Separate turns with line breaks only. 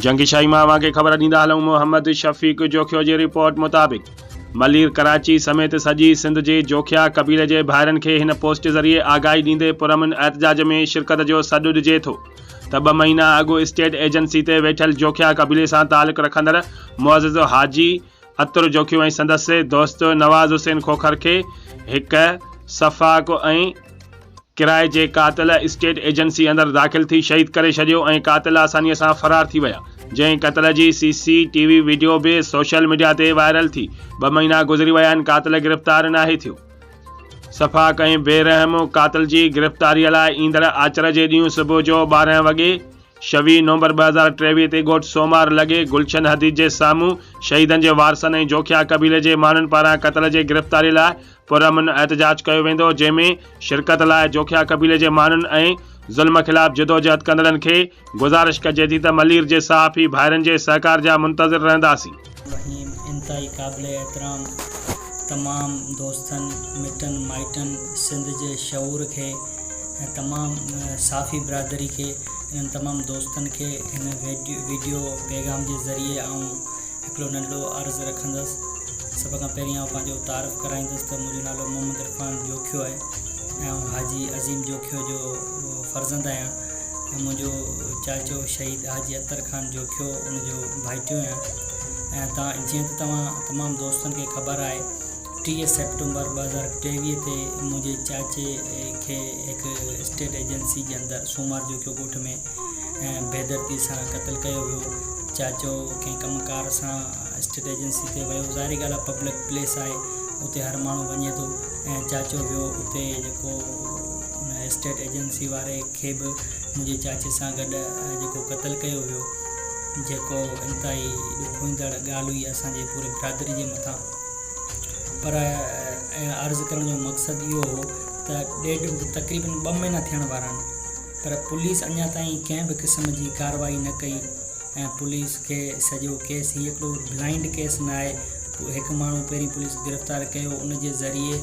جنگ شاهي مان اوهان کي خبر ڏيندا هلون محمد شفيق جوکيو جي رپورٽ مطابق ملير ڪراچي سميت سڄي سنڌ جي جوکيا قبيلي جي ڀائرن کي هن پوسٽ ذريعي آگاهي ڏيندي پرامن احتجاج ۾ شرڪت جو سڏ ڏجي ٿو ته ٻه مهينا اڳ اسٽيٽ ايجنسي تي ويٺل جوکيا قبيلي سان تعلق رکندڙ معزز حاجي عطر جوکيو ۽ سندس دوست نواز حسين کوکر کي هڪ سفاڪ ۽ ڪرائي جي قاتل اسٽيٽ ايجنسي اندر داخل ٿي شهيد ڪري ڇڏيو ۽ قاتل آسانيء سان فرار ٿي ويا جنهن قتل جي C C T V video به سوشل ميڊيا تي وائرل ٿي ٻه مهينا گذري ويا آهن قاتل گرفتار ناهي ٿيو سفاڪ ۽ بي رحم قاتل جي گرفتاري لاء ايندڙ آچر جي ڏينهن صبح جو ٻارهن وڳي شويهه نومبر ٻه هزار ٽيويهه تي ڳوٺ سومار لڳي گلشن حديد جي سامهون شهيدن جي وارثن ۽ جوکيا قبيلي جي ماڻهن پاران قتل جي گرفتاري لاء پرامن احتجاج ڪيو ويندو جنهن ۾ شرڪت لاء جوکيا قبيلي جي ماڻهن ۽ ظلم خلاف جدوجهد ڪندڙن کي گذارش ڪجي ٿي ته ملير جي صحافي ڀائرن جي سهڪار جا منتظر رهنداسين. وهيم انتهائي
قابل احترام تمام دوستن مٽن مائٽن سنڌ جي شعور کي ۽ تمام صافي برادري کي انهن تمام دوستن کي هن ويڊيو پيغام جي ذريعي آئون هڪڙو ننڍڙو عرض رکندس سڀ کان پهرين آئون پنهنجو تعارف ڪرائيندس ته منهنجو نالو محمد عرفان جوکيو آهي ۽ آئون حاجي عظيم جوکيو جو فرزند آهيان. منهنجو چاچو شهيد حاجي عطر خان جوکيو ان جو ڀائيٽيو آهيان ۽ تان جيئن ته توهان تمام دوستن کي خبر آهي ٽيهه سيپٽمبر ٻه هزار ٽيويهه تي منهنجي چاچي کي هڪ اسٽيٽ ايجنسي جي اندر سومار جوکيو ڳوٺ ۾ بي دردي سان قتل ڪيو ويو چاچو ڪنهن ڪم ڪار سان اسٽيٽ ايجنسي تي ويو ظاهري ڳالهه آهي پبلڪ پليس آهي اتي هر ماڻهو وڃي ٿو ۽ چاچو ويو اتي جيڪو ان اسٽيٽ ايجنسي واري کي به منهنجي چاچي سان گڏ جيڪو قتل ڪيو ويو جيڪو انتهائي ڏکوئيندڙ ڳالهه هئي اسان جي پوري برادري جي مٿان پر اهڙا عرض ڪرڻ جو مقصد اهو هو ته ڏيڍ تقريبن ٻه مهينا ٿيڻ وارا آهن پر پوليس اڃا تائين ڪنهن به قسم جي ڪارروائي نه ڪئي ۽ پوليس کي سڄو ڪيس هي هڪڙو بلائنڊ ڪيس نه آهي هڪ ماڻهو پهرين پوليس گرفتار ڪيو ان جي ذريعي